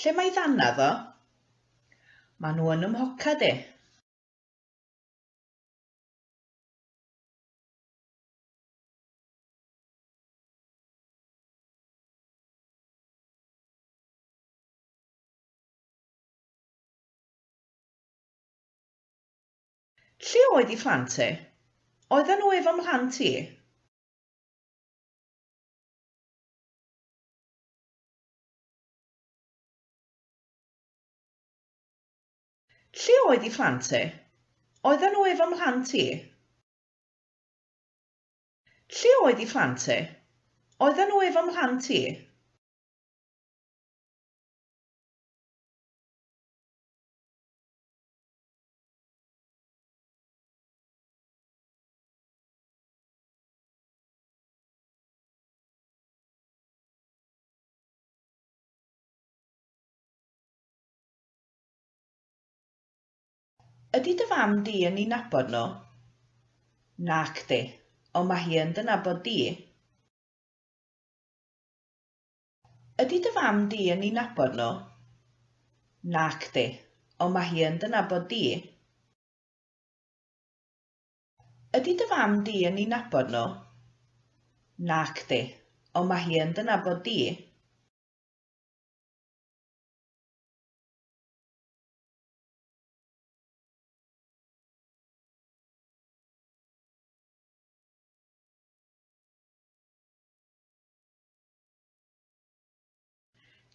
Lle mae ddannedd o? Mae nhw yn 'y mhoced i. Lle oedd i phlant ti? Oedden nhw efo mhlant i. Lle oedd i phlant ti? Oedden nhw efo mhlant ti? Lle oedd i phlant ti? Oedden nhw efo mhlant ti? Ydy dy fam di yn i nabod nhw? Nac di, ond mae hi yn dy nabod di. Ydy dy fam di yn i nabod nhw? Nac di, ond mae hi yn dy nabod di. Ydy dy fam di yn i nabod nhw? Nacdi, ond mae hi yn dy nabod di.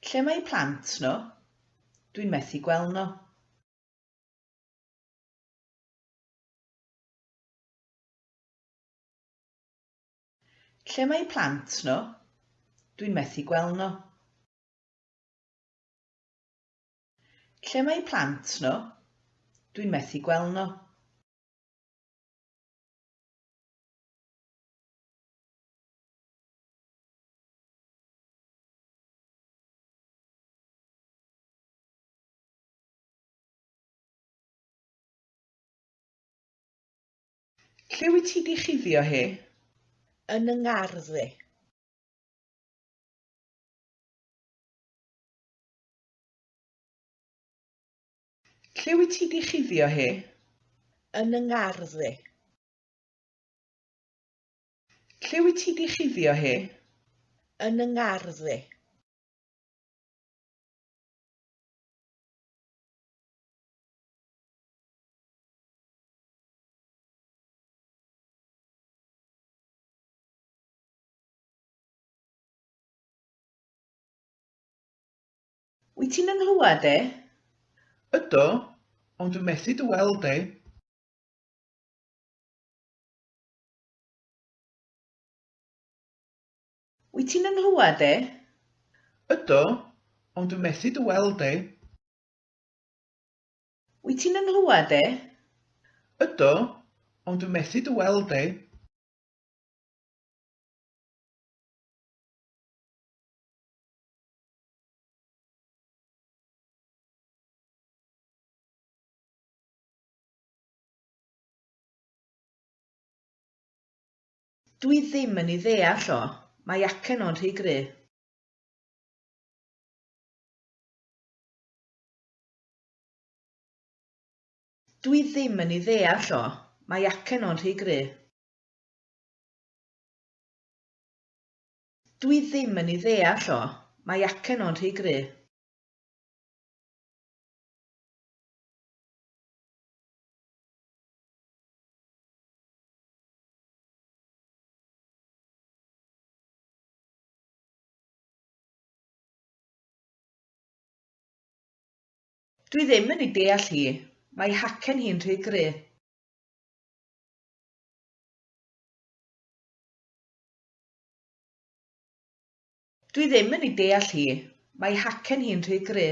Lle mae eu plant nhw? Dwi'n methu gweld nhw. Lle mae eu plant nhw? Dwi'n methu gweld nhw. Lle mae eu plant nhw? Dwi'n methu gweld nhw. Lle wyt ti 'di chuddio hi? Yn 'y ngardd i. Lle wyt ti 'di chuddio hi? Yn 'y ngardd i. Lle wyt ti 'di chuddio hi? Yn 'y ngardd i. Wyt ti'n yn nghlywed i? Ydw, ond dwi methu dy weld di. Wyt ti'n yn nghlywed i? Ydw, ond dwi methu dy weld di. Wyt ti'n 'y nghlywed e? Ydw, ond dw methu dy weld e. Dw i ddim yn ei ddeall o. Mae acen o'n rhy gry'. Dw i ddim yn ei ddeall o, mae acen o'n rhy gry. Dw i ddim yn ei ddeall o, mae acen o'n rhy gry. Dwi ddim yn ei deall hi. Mae hacen hi'n rhy gry. Dwi ddim yn ei deall hi. Mae hacen hi'n rhy gry.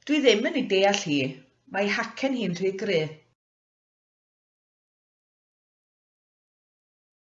Dwi ddim yn ei deall hi. Mae hacen hi'n rhy gry.